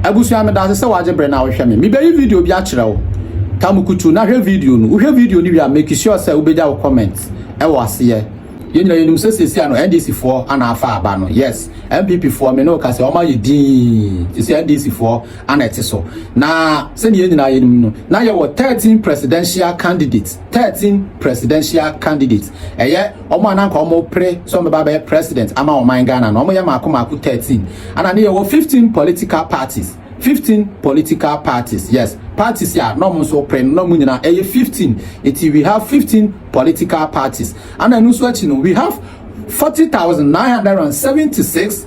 Abusua, medase sɛ w'agye bere na wohwɛ me. Mebeyi video bi akyerɛ wo. Ta mo kutu na hwɛ video no. Wohwɛ video no wie a, make sure sɛ wobegya wo comment wɔ aseɛ. Yɛn nyinaa yɛnim sɛ seesei ano NDC foɔ ana afa aba no. Yes, NPP foɔ me ne wo ka sɛ wɔn ayɛ dinn. Seesei NDC foɔ ana ɛte so. Na sɛdeɛ yɛn nyinaa yɛnim no, na yɛwɔ 13 presidential candidates. 13 presidential candidates, ɛyɛ wɔn a na anka wɔn pere sɛ wɔn bɛba abɛyɛ president ama ɔman Ghana no, wɔn yɛ mmaako mmaako 13, ɛna ne yɛ wɔ 15 political parties, 15 political parties, yes, parties a na wɔn nso pere no na wɔn nyinaa ɛyɛ 15, eti we have 15 political parties, ɛna ɛno nso akyi no we have 40,976.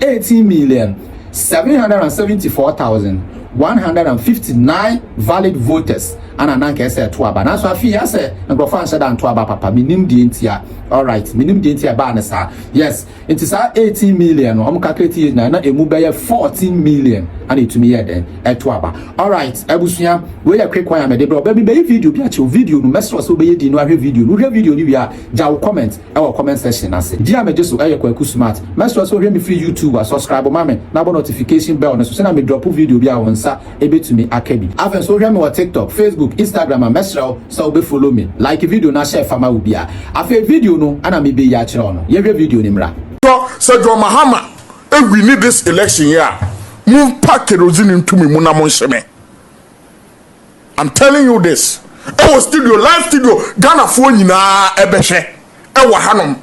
eighteen million, seven hundred and seventy four thousand, one hundred and fifty nine valid voters ana na nka ɛsɛ ɛto aba nanso afei yɛ sɛ nkurɔfoɔ anhyɛ da nto aba papa menim deɛ nti a alright menim deɛ nti a ɛbaa ne saa yes nti saa eighteen million no ɔmo calculate yɛ nyinaa na emu bɛyɛ fourteen million ana etumi yɛ dɛn ɛto aba alright abusua wei yɛ quick one a mɛde brɛ ɔbɛ bi bɛyɛ video bi akyɛw video no mɛsrɛ sɛ wobɛyɛ di no ahwɛ video no wohwɛ video no wie a gya wo comment ɛwɔ comment section no ase. Din a megye so yɛ Kwaku Smart. Mɛsrɛ sɛ wohwɛ me firi YouTube a, subscribe ma me na bɔ notification bell no so sɛnea me drop video bi a wo nsa bɛtumi aka bi. Afei nso wohwɛ me wɔ TikTok, Facebook, Instagram a, mɛsrɛ wo sɛ wobɛ follow me. Like video no na hyɛ fa ma wo biara. Afei video no na mebɛyi akyerɛ wo no. Yɛnhwɛ video no mmra. Tɔ, sɛ John Mahama wini this election yi a, momfa kerosene nto me mu na monhye me. I'm telling you this ɛwɔ studio live studio Ghana foɔ nyinaa ɛbɛhwɛ ɛwɔ hanom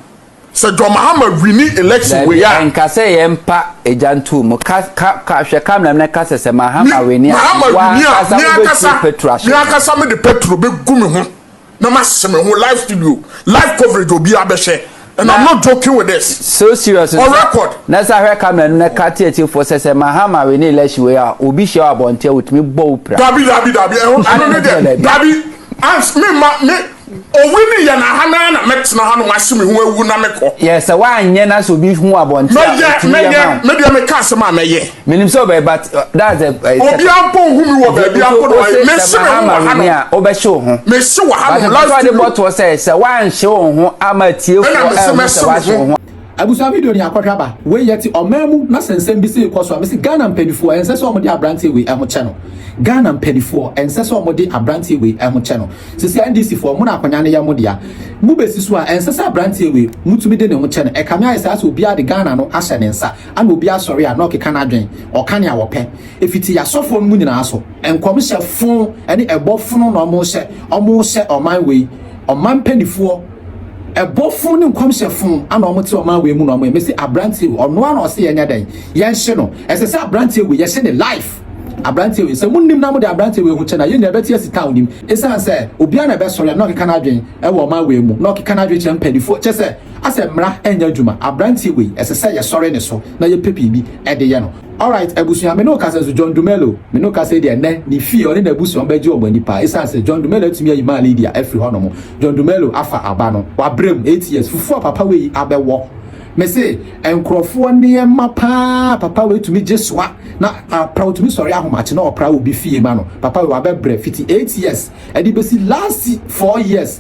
sɛ John Mahama wini election wei a. Nka sɛ yɛn mpa egya ntu mu ka ka ka hwɛ camera mi na ka sɛ sɛ Mahama wini a wa ankasa wo bɛ tu petro ahyɛ. Mi ankasa mi de petro bɛ gu mi ho. na ma sese me ho live studio live coverage obi abɛhyɛ and i'm not joking with this so serious on record na sa hwɛ camera no na ka tie tie fo sɛ sɛ mahama we ne election we a obi hyɛ abɔnte a otumi bɔ wo pira dabi dabi dabi ɛho ɛno ne deɛ dabi ans me ma me owi ne yɛ na ha na na mɛtena ha no mahye me ho awu na mekɔ yɛ sɛ woanyɛ na sɛ obi hu abɔnte a mɛyɛ mɛyɛ me deɛ meka asɛm a mɛyɛ menim sɛ ɔbɛyɛ but uh, that's a uh, obiara mpo nhu mi wɔ baabi ampo na wayɛ mesi mi ho wɔ ha nom ɔbɛhye wo ho mesi wɔ ha nom last video but ɔde sɛ sɛ wanhye wo ho ama tiefo ɛna mesi mesi wo ho abusua video ni akɔhwɛ aba wei yɛ ti ɔman mu na sɛnsɛn bi sɛ ekɔ so a mesi ghana mpanimfoɔ ɛnsɛ sɛ wɔn de aberanteɛ wei ɛho kyɛ no ghana mpanimfoɔ ɛnsɛ sɛ wɔn de aberanteɛ wei ɛho kyɛ no sisi ndc foɔ mo na akɔnya no yɛ mo dea mo besi so a ɛnsɛ sɛ aberanteɛ wei mo tumi de ne ho kyɛ no ɛkame ayɛ sɛ asɛ obiara de ghana no ahyɛ ne nsa Ana obi asɔre a na ɔkeka n'adwen, ɔka nea ɔpɛ, efiti y'asɔfoɔ no mu nyinaa so. Nkɔmhyɛ fon ne ɛbɔ fono na ɔmo hyɛ, ɔmo hyɛ ɔman wei, ɔman mpanifoɔ, ɛbɔ fon ne nkɔmhyɛ fon ana ɔmo te ɔman wei mu na ɔmo yɛ, mese abranteɛ wei, ɔnoa na ɔse yɛnyɛ dɛn, yɛnhye no, ɛsɛ sɛ abranteɛ wei yɛhye ne life, abranteɛ wei, sɛ monim na mode abranteɛ wei ho kyɛ no a, yɛn nyinaa bɛte asi ta, onim, esane sɛ obiara na ɛbɛsɔre a na ɔkeka n'adwen wɔ ɔman wei mu, na ɔkeka n'adwen kyerɛ mpanifoɔ, kyerɛ sɛ. Asɛ mmra ɛnyɛ adwuma abranteɛ wei ɛsɛ sɛ yɛsɔre ne so na yɛpɛ biribi de yɛ no alright abusua me ne wo kasa nso John Dumelo me ne wo kasa yi deɛ ɛnɛ ne fie ɔne n'abusuam bɛgye wɔn ani paa ɛsiane sɛ John Dumelo atumi ayi maa Lydia afiri hɔ nom John Dumelo afa aba no wabrɛ mu eight years fufuo a papa wei abɛwɔ me se nkurɔfoɔ nneɛma paa papa wei tumi gye soa na apra otumi sɔre ahomakye na ɔpra obi fie ma no papa wei wabɛbrɛ fiti eight years ɛde bɛsi last four years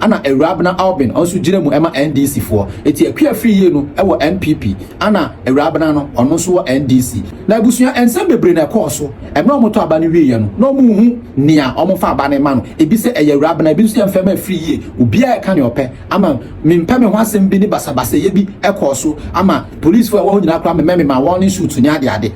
Ana Awurabena Alvin ɔnso gyina mu ɛma NDC foɔ. Eti Akua firi yie no ɛwɔ NPP ana Awurabena no ɔno nso wɔ NDC. Na abusua ɛnsɛm bebree na ɛkɔɔ so ɛmrɛ ɔmo tɔ aba no wieɛ no na ɔmo nhu nea ɔmo fa aba no ɛma no ebi sɛ ɛyɛ Awurabena ebi nso yɛ mfɛma ɛfiri yie obiaa ɛka nea ɔpɛ ama me mpɛ me ho asɛm bi ne basabasayɛ bi ɛkɔɔ so ama police foɔ ɛwɔ hɔ nyinaa koraa memɛ me maa warning shoot ne adeade.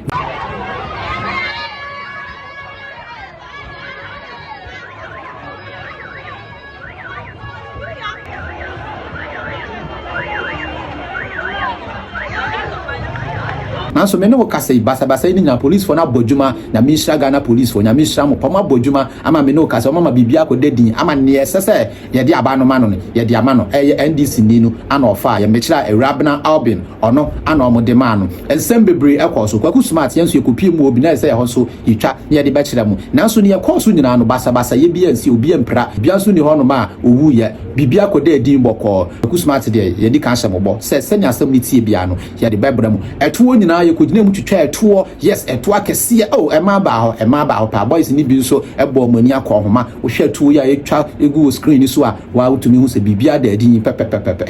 nanso me ne wo kasa yi basabasa yi ne nyinaa policefoɔ no abɔ adwuma nyame nhyira ghana policefoɔ nyame nhyira mo pa ɔmo abɔ adwuma ama me ne wo kasa ɔmo ama biribi akɔda din ama neɛ ɛsɛ sɛ yɛde aba no ma no no yɛde ama no ɛyɛ ndc ni no ana ɔfaa yɛ mekyerɛ a awura abena albion ɔno ana ɔmo de maa no nsɛm bebree ɛkɔɔ so kwaku smart yɛn nso yɛkɔpie mu obi na ɛsɛ ɛhɔ nso yɛtwa na yɛde bɛkyerɛ mo. Nanso nea ɛkɔɔ so nyinaa no, basabasayɛ biara ansi, obi ampira, obiara nso nni hɔnom a owuiɛ. Biribiara kɔdaa din bɔkɔɔ. Kwaku Smart deɛ, yɛadi kan ahyɛ mo bɔ sɛ sɛnea asɛm no teɛ biara no, yɛde bɛbrɛ mo. Ɛtoɔ nyinaa, yɛkɔgyinaa mu twitwaa ɛtoɔ. Yes, ɛtoɔ akɛseɛ. Oh, ɛmaa baa hɔ. Ɛmaa baa hɔ paa. Boys no bi nso bɔɔ mo ani akɔnhoma. Wohwɛ ɛtoɔ yi a ɛretwa gu wɔ screen no so a, woa wotumi hu sɛ biribiara daa din pɛpɛpɛpɛpɛ.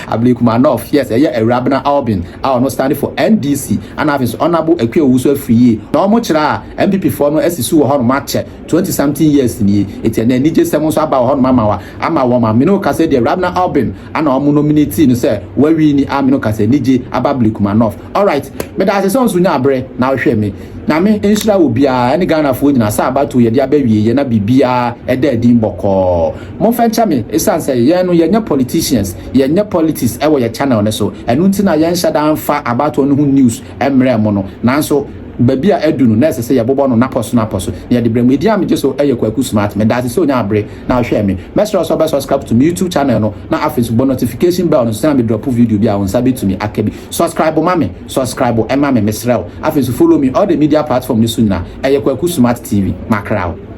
Ablekuma North, yes, ɛyɛ Awurabena Albion. a ɔno stand for NDC ana afei nso Honourable Akua Owusu afiri yie na wɔn kyerɛ a NPP foɔ no asi su wɔ hɔnom akyɛ twenty something years nie eti ɛnɛ anigye sɛm nso aba wɔ hɔnom ama wa ama wɔn a mene wo kasa deɛ Rabna Albin ana wɔn nominate no sɛ wawi ni a mene wo kasa anigye aba Blikuma North alright meda ase sɛ nso nya aberɛ na wohwɛ me nyame nhyira wɔ biara ɛne Ghanafoɔ nyina sɛ abatoɔ yɛde aba wie yɛ na biribiara ɛda adin bɔkɔɔ Monfa nkyɛ me, esiane sɛ yɛn no yɛnyɛ politicians, yɛnyɛ politics wɔ yɛn channel no so, ɛno nti na yɛnhyɛ da mfa abatoɔ no ho news mmrɛ mo no, nanso baabi a adu no na ɛsɛ sɛ yɛbobɔ no napɔso napɔso na yɛde brɛ mo. Edin a megye so yɛ Kwaku Smart. Medaase sɛ onyaa bere na ɔhwɛɛ me. Mɛsrɛ wo sɛ wobɛ subscribe to me YouTube channel no na afei nso bɔ notification bell no sɛnea me drop video biara wo nsa bɛtumi aka bi. Subscribe ma me, subscribe ma me, mesrɛ wo. Afei nso follow me all the media platform no so nyinaa, ɛyɛ Kwaku Smart TV. Makra wo.